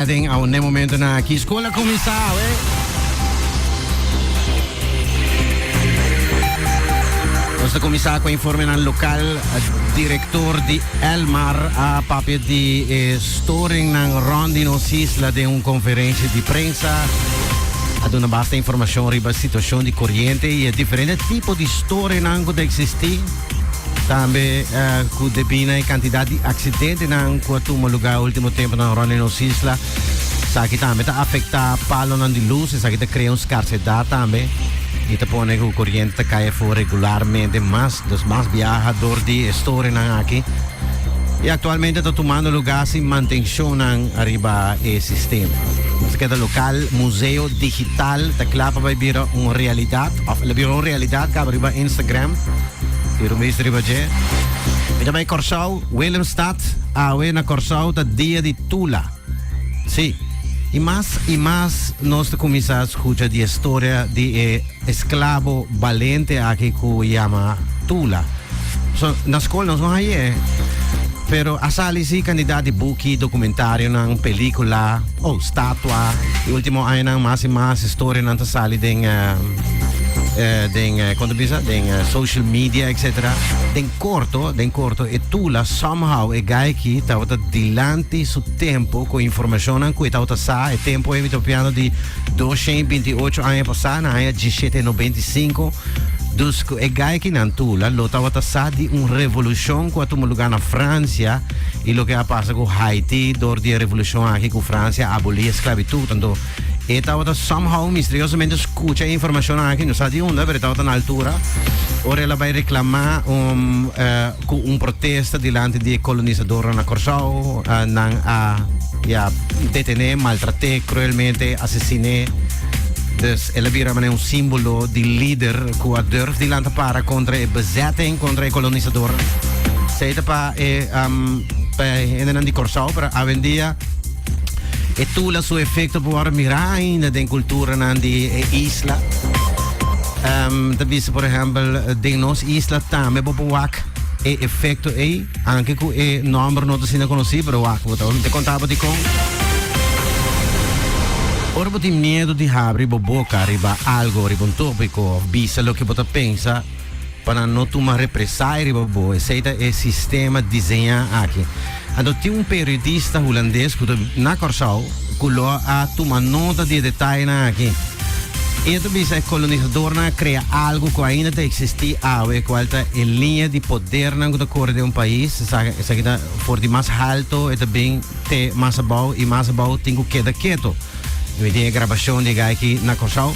Den a un den momentonan aki school a cuminsa awe. Nos ta comenzá con informe nan local. Director di Elmar a papia di eh, storing nan rond di nos isla de un conferencia di prensa. A duna basta informacion riba situacion di corriente y e diferente tipo di storing nan cu ta existí. Tambe cu debí na e cantidad di accidentenan cu a tuma lugar último temponan rond e nos isla, esaki tambe ta afectá palonan di lus, esaki ta crea un scarcedad tambe y ta pone cu coriente ta cay afo regularmente mas. Dus mas biaha dor di e storenan aki y actualmente ta tumando lugar sin mantencionnan ariba e sistema. Nos a keda local, Museo Digital ta cla pa bai bira un realidad. Of el a bira un realidad caba riba Instagram y lo mis riba dje. Mi ta bay Corsou, Willemstad, awe na Corsou ta dia di Tula. Si, y mas y mas nos ta cuminsa scucha di e storia di e esclabo balente aki cu yama Tula. So, na scol nos no haye, pero a sali si cantidad di buki, documentarionan, pelicula, Oh, statua. E ultimo añanan mas i mas historianan ta sali den den kon ta bisa den social media etc. Den korto, den korto e Tula somehow e gayki tabata dilanti su tempo ku informashonnan ku e tabata sa e tempo ei mi ta hopiando di dos shen i binti ocho aña pasá na aña djishete i nobenta i sinku. Dus ku e gaykinan Tula lo tabata sa di un revolushon ku a tuma lugá na Fransia. y loke a pasa cu Haiti door di e revolucion aki cu Francia a aboli e sclavitud. Anto e tabata somehow misteriosamente scucha e informacion aki, no sa di unda, pero e tabata na altura ora el a bay reclama cu un protesta dilanti di e colonisadoran na Corsou. Nan a ya detene, maltrate cruelmente, asesine. Dus el a bira mana un simbolo di lider cu a durf di lanta para contra e bezetting, contra e colonisadoran. E pa e hendenan di Kòrsou, pero awendia e tula su efekto por wòrdu mirá ainda den kulturanan di e isla. Mi ta bisa, por ehèmpel, den nos isla tambe bo por wak e efekto ei, aunke ku e nòmber no ta asina konosí, pero wak bo ta wak. Mi ta konta bo dikon. Ora bo tin miedu di habri bo boka riba algu, riba un tópiko òf bisa loke bo ta pensa, pa nan no tuma represalia riba bo, esei ta e sistema diseña aki. Anto tin un periodista hulandes ku ta biba na Kòrsou ku lo a tuma nota di e detayenan aki. I a ta bisa e kolonisadornan a krea algu ku ainda ta eksistí awe, e kual ta e liña di podernan ku ta kore den un pais. Esaki ta for di mas halto, e ta bin te mas abou i mas abou tin ku keda keto. Mi tin e grabashon di e guy aki na Kòrsou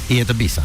i e ta bisa.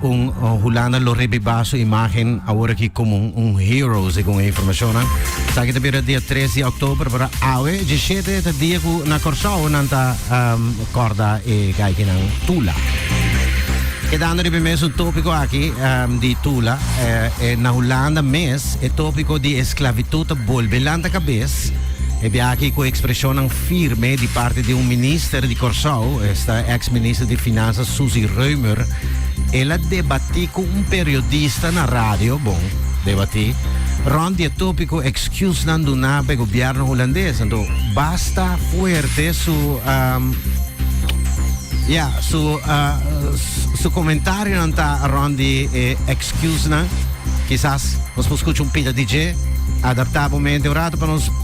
Un Hulanda lo rebiba su imagen awor aki komo un hero, segun e informashonnan. Esaki ta bira dia 3 di oktober, pero awe dje shete ta dia ku na Kòrsou nan ta kòrda e gaikinan Tula. Kedando riba e mesun topiko aki di Tula, na Hulanda mes e topiko di esklavitut ta bolbe lanta kabes, e biaha aki ku ekspreshonnan. firme di parti di un minister di Kòrsou, esta eks minister di Finansa Suzy Römer, el a debatí ku un periodista na radio, bon, debatí, rònt di e tópiko ekskusnan duná pa e gobièrnu hulandes. Anto basta fuerte su, um, ya, su, uh, su komentarionan ta rònt di e ekskusnan. Kisas nos por skucha un pita di dje, adaptá bo mente un ratu pa nos.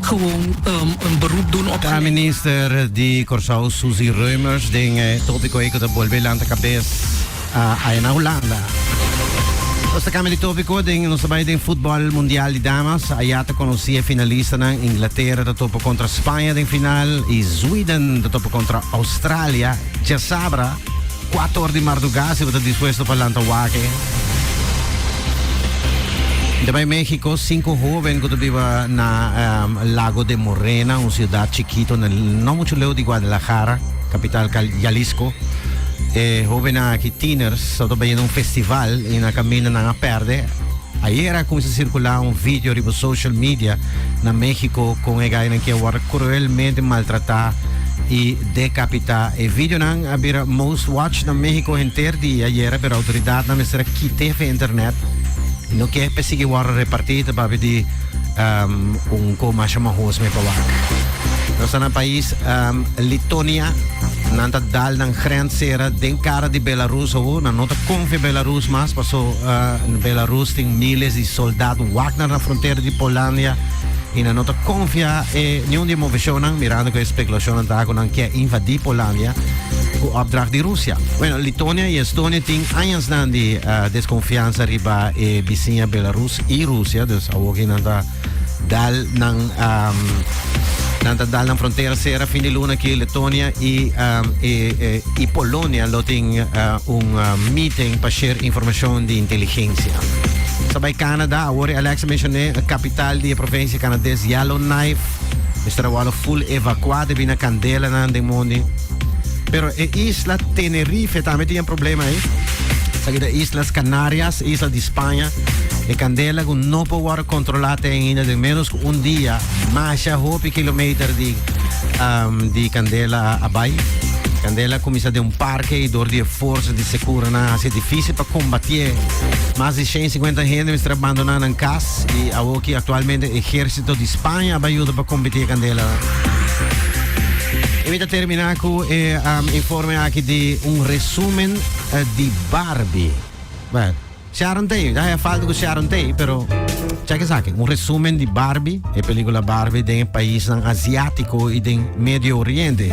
gewoon un beroep doen op Ta minister di Kòrsou Susie Reumers den e topiko ei ku ta bolbe lanta kabes aya na Hulanda. Nos ta kambia di topiko den nos ta bai den futbòl mundial di damas. Aya ta konosí e finalistanan, Inglatera ta topa kontra Spaña den final i Zweden ta topa kontra Australia djasabra. Kuato or di mardugá, si bo ta dispuesto pa lanta wak e. De bai México, cinco joven cu biba na um, Lago de Morena, un ciudad chiquito, na, no mucho leo di Guadalajara, capital Cal Jalisco. Eh, joven aquí, tieners, so to un festival y na camino na a perde. Ayer a comienza a circular un video riba social media na México con el que cruelmente maltrata y Decapita. E videonan a bira most watched na Mexico henter di ayera pero autoridadnan mester a kite fen internet y no ke pe sigui wòrdu reparti ta papia di un koe masha mohos me pa wak. Nos ta na pais Litonia, nan ta dal nan grens sera den cara di Belarus awo, nan no ta konfia Belarus mas paso Belarus tin miles di soldad Wagner na frontera di Polandia. y nan no ta confia e niun di e moveshonnan mirando cu e speculashonnan ta cu nan kier invadi Polandia cu opdracht di Rusia. Bueno, Litonia y Estonia tin añasnan di uh, desconfianza riba e bisiña Belarus y Rusia, dus awo ki nan ta dal nan um, nan ta dal nan frontera sera fin di luna ki Letonia y, um, e, e, y Polonia lo tin uh, un uh, meeting pa share informacion di inteligencia. Ta bai Canada, awor e Alex mencioné, e capital di e provincia Canadees Yellowknife. Mister awalo full evacua debi na candela nan den mondi. Pero e isla Tenerife tambe tin e problema eh. Seguida Islas Canarias, isla di Spanje. E candela go no po wor controla ten ainda den menos cu un dia. Masha hopi kilometer di, um, di candela a bai. Candela cominsa den un park. Kei dor di e forsa di sekura nan a hasi difisil pa kombatié. Mas di shen sikuenta hende mester a bandoná nan kas i awor ki aktualmente ehérsito di Spaña a bai yuda pa kombatié kandela. Y mi ta termina cu e um, informe aquí de un resumen uh, di Barbie. Bueno. Sharon Tate, ya haya falta cu Sharon Tate, pero check esaki, un resumen di Barbie, e película Barbie den e paisnan Asiático y den Medio Oriente.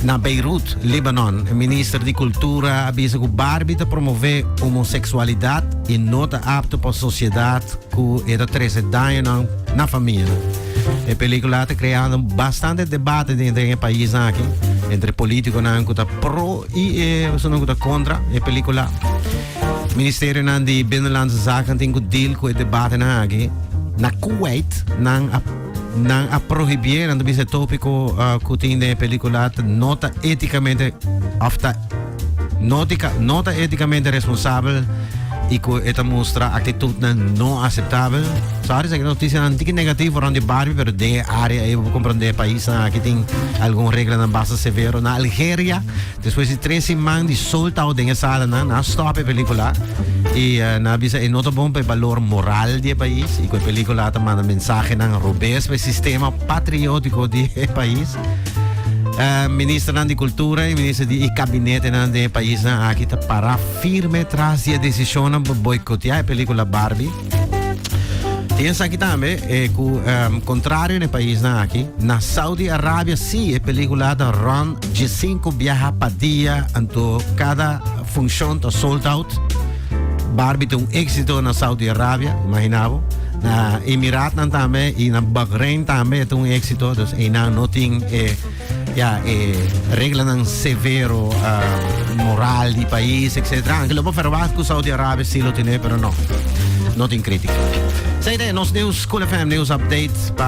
Na Beirut, Libanon, e minister di Cultura a bisa cu Barbie ta promove homosexualidad y no ta apto pa sociedad cu e ta trece dañonan na famia. E película a ta creando bastante debate den den e paisnan aki entre politiconan cu ta pro y esunnan cu ta contra e película. Ministerionan di Binnenlandse Zaken tin ku deal ku e debatenan aki. Na Kuwait nan a nan a prohibié nan ta bisa e tópiko ah, ku tin den e pelíkula ta no ta étikamente òf ta nótika no ta étikamente responsabel i ku e ta mustra aktitudnan no aseptabel. So ahora esaki notisianan tiki negativo rònt di Barbie pero den e área ei bo por komprendé e paisnan aki tin algun reglanan basta severo. Na Algeria. Despues di tres siman di soltao den e salanan, nan a stòp e pelíkula i nan a bisa e no ta bon pa e balor moral di e pais i ku e pelíkula ta manda mensahenan robes pa e sistema patriótiko di e pais. Ministernan di Kultura i minister di e kabinetenan den e paisnan aki ta pará firme tras di e desishonnan pa boikoteá e pelíkula Barbie. Y en aquí también, eh, cu, um, contrario en el país na aquí, na Saudi Arabia sí, e película da Ron G5 viaja pa día, anto cada función ta sold out. Barbie te un éxito na Saudi Arabia, imaginabo. Na Emiraten también y na Bahrein también te un éxito, dus einan no tin eh, Ya, e reglanan severo moral di pais, etcetera. Anke lo por ferwagt ku Saudi Arabia si lo tene, pero no. No tin kritika. Sa e nos news, Cool FM News Update, pa